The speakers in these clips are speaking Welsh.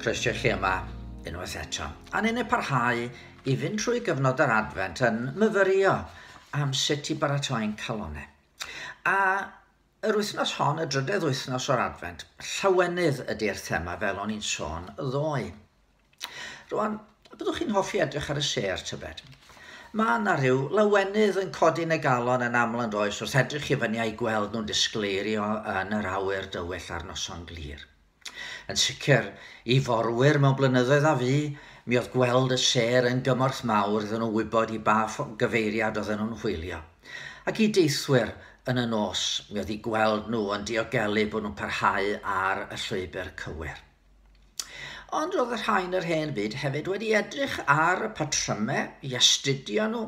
Croeso chi yma unwaith eto. A ni'n ei parhau i fynd trwy gyfnod yr adfent yn myfyrio am sut i baratoi'n calonau. A yr wythnos hon, y drydedd wythnos o'r adfent, llawenydd ydy'r thema fel o'n i'n sôn ddoe. Rwan, a byddwch chi'n hoffi edrych ar y sêr, tybed? Mae yna rhyw lawenydd yn codi yn y galon yn aml yn does wrth edrych i fyny a'i gweld nhw'n disgleirio yn yr awyr dywyll ar noson glir. Yn sicr, i forwyr mewn blynyddoedd a fu, mi oedd gweld y sêr yn gymorth mawr iddyn nhw wybod i ba gyfeiriad oedden nhw'n hwylio. Ac i deithwyr yn y nos, mi oedd i gweld nhw yn diogelu bod nhw'n parhau ar y llwybr cywir. Ond roedd y rhain yr hen fyd hefyd wedi edrych ar y patrymau i astudio nhw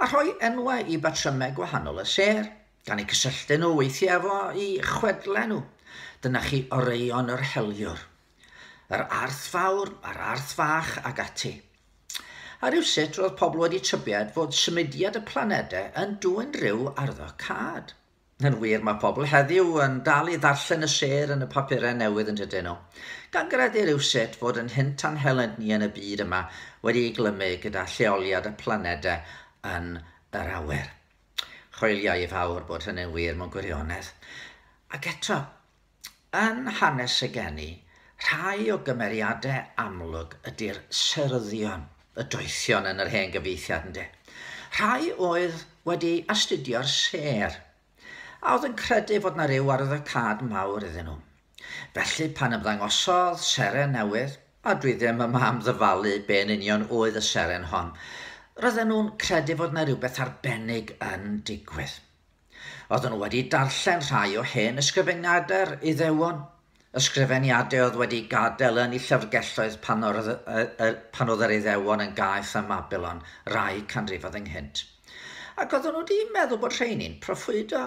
a rhoi enwau i batrymau gwahanol y sêr, gan eu cysylltu nhw weithiau efo i chwedlau nhw. Dyna chi oreion yr heliwr. Yr arth fawr a'r arth fach ac ati. A rhywsut roedd pobl wedi tybied fod symudiad y planedau yn dwyn rhyw arddo cad. Yn wir, mae pobl heddiw yn dal i ddarllen y sêr yn y papurau newydd yndydyn nhw? Gan gredu rywsut fod ein hynt a'n helynt ni yn y byd yma wedi ei glymu gyda lleoliad y planedau yn yr awyr. Chwiliau i fawr bod hynny'n wir mewn gwirionedd. Ac eto, Yn hanes y geni, rhai o gymeriadau amlwg ydy'r Seryddion, y Doethion yn yr hen gyfieithiad, ynde? Rhai oedd wedi astudio'r sêr, a oedd yn credu fod na ryw arwyddocâd mawr iddyn nhw. Felly pan ymddangosodd seren newydd, a dwi ddim yma am ddyfalu be yn union oedd y seren hon, roedden nhw'n credu fod na rywbeth arbennig yn digwydd. Oeddwn wedi darllen rhai o hen ysgrifeniadau'r Iddewon, ysgrifeniadau oedd wedi gadael yn eu llyfrgelloedd pan oedd, pan oedd yr Iddewon yn gaeth ym Mabylon rai canrifoedd ynghynt. Ac oeddwn wedi meddwl bod rheini'n proffwydo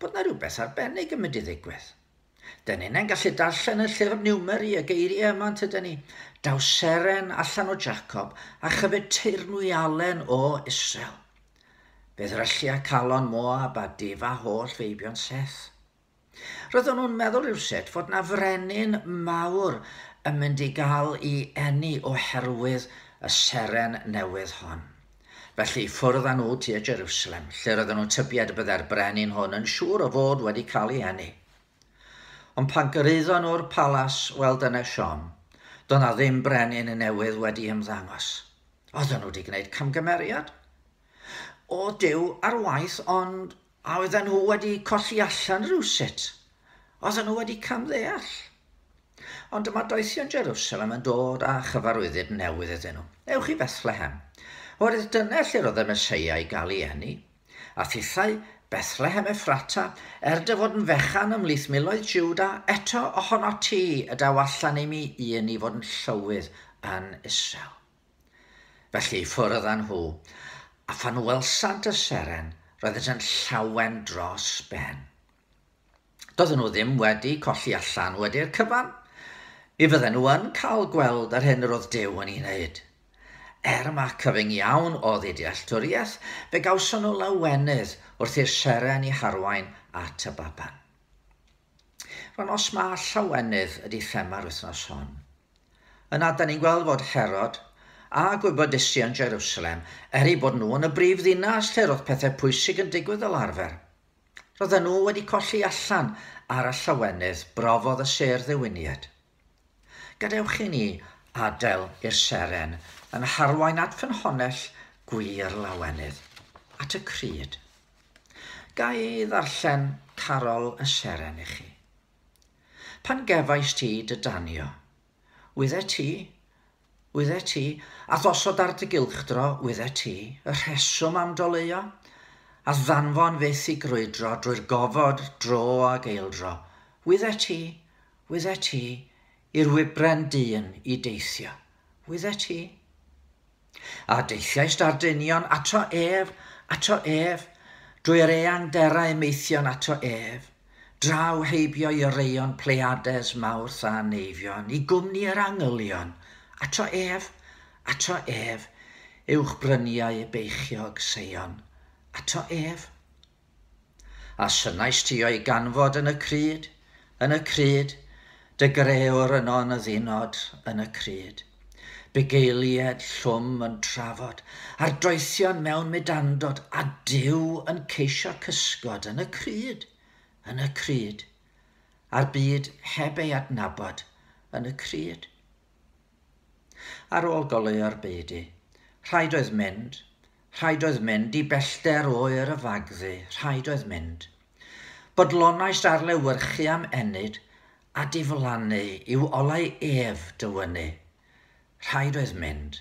bod yna rhywbeth arbennig yn mynd i ddigwydd. Dyn ni'n yn gallu darllen y llyfr Niwmeri y geiriau yma yn tyda ni. Daw seren allan o Jacob a chyfyd teirnwy alen o Israel. Fe ddryllia calon Moab a difa holl feibion Seth. Roeddwn nhw'n meddwl rhywsut fod na frenin mawr yn mynd i gael i enni oherwydd y seren newydd hon. Felly ffwrdd â nhw tua Jerusalem, lle roedden nhw'n tybied y byddai'r brenin hwn yn siŵr o fod wedi cael ei heni. Ond pan gyrhaeddon nhw'r palas, wel dyna siom, doedd na ddim brenin newydd wedi ymddangos. Oedden nhw wedi gwneud camgymeriad? O, Duw ar waith, ond A oedden nhw wedi colli allan rywsut. Oedden nhw wedi camddeall. Ond dyma doethion Jerusalem yn dod â chyfarwyddyd newydd iddyn nhw. Ewch i Fethlehem. Oherwydd dyna lle roedd y Meseia i gael ei eni. A thithau Bethlehem Effrata, er dy fod yn fechan ymhlith miloedd Jiwda, eto ohonot ti y daw allan i mi i eni fod yn llywydd yn Israel. Felly ffwrdd â nhw, a phan welsant y seren, roeddynt yn llawen dros ben. Doedden nhw ddim wedi colli allan wedi'r cyfan. Mi fydden nhw yn cael gweld yr hyn yr oedd Duw yn ei wneud. Er mae cyfyng iawn oedd eu dealltwriaeth, fe gawson nhw lawenydd wrth i'r seren i harwain at y baban. Rwan os mae llawenydd ydy thema'r wythnos hon. Yna, da ni'n gweld fod Herod a gwybodaethu yn Jerusalem, er eu bod nhw yn y brif ddinas lle roedd pethau pwysig yn digwydd fel arfer. Roedden nhw wedi colli allan ar y llawenydd brofodd y sêr ddiwiniad. Gadewch i ni adael i'r seren yn harwain at ffynhonnell gwir lawenydd, at y Crud. Ga i ddarllen carol y seren i chi? Pan gefais ti dy danio, wyddet ti, Wyddet ti, a gosod ar dy gylchdro, wyddet ti, y rheswm am doleuo? A ddanfon fyth i grwydro drwy'r gofod dro ag eildro, wyddet ti, wyddet ti, i'r wybren dyn i deithio, wyddet ti? A deithiaist â'r dynion ato ef, ato ef, drwy'r eang derau maethion ato ef, draw heibio i oreuon Pleiades, Mawrth a Neifion, i gwmni yr angylion, ato ef, ato ef, uwch bryniau beichiog Seion, ato ef. A synnais ti o'i ganfod yn y cryd, yn y cryd, Dy Greüwr yn on y ddinod yn y crud, bugeilied llwm yn trafod, a'r doethion mewn mudandod, a Duw yn ceisio cysgod yn y crud, yn y crud, a'r byd heb ei adnabod yn y crud. Ar ôl goleuo'r beudy, rhaid oedd mynd, rhaid oedd mynd i bellter oer y fagddu, rhaid oedd mynd. Bodlonaist ar lewyrchu am ennyd a diflannu i'w olau ef dywynu. Rhaid oedd mynd,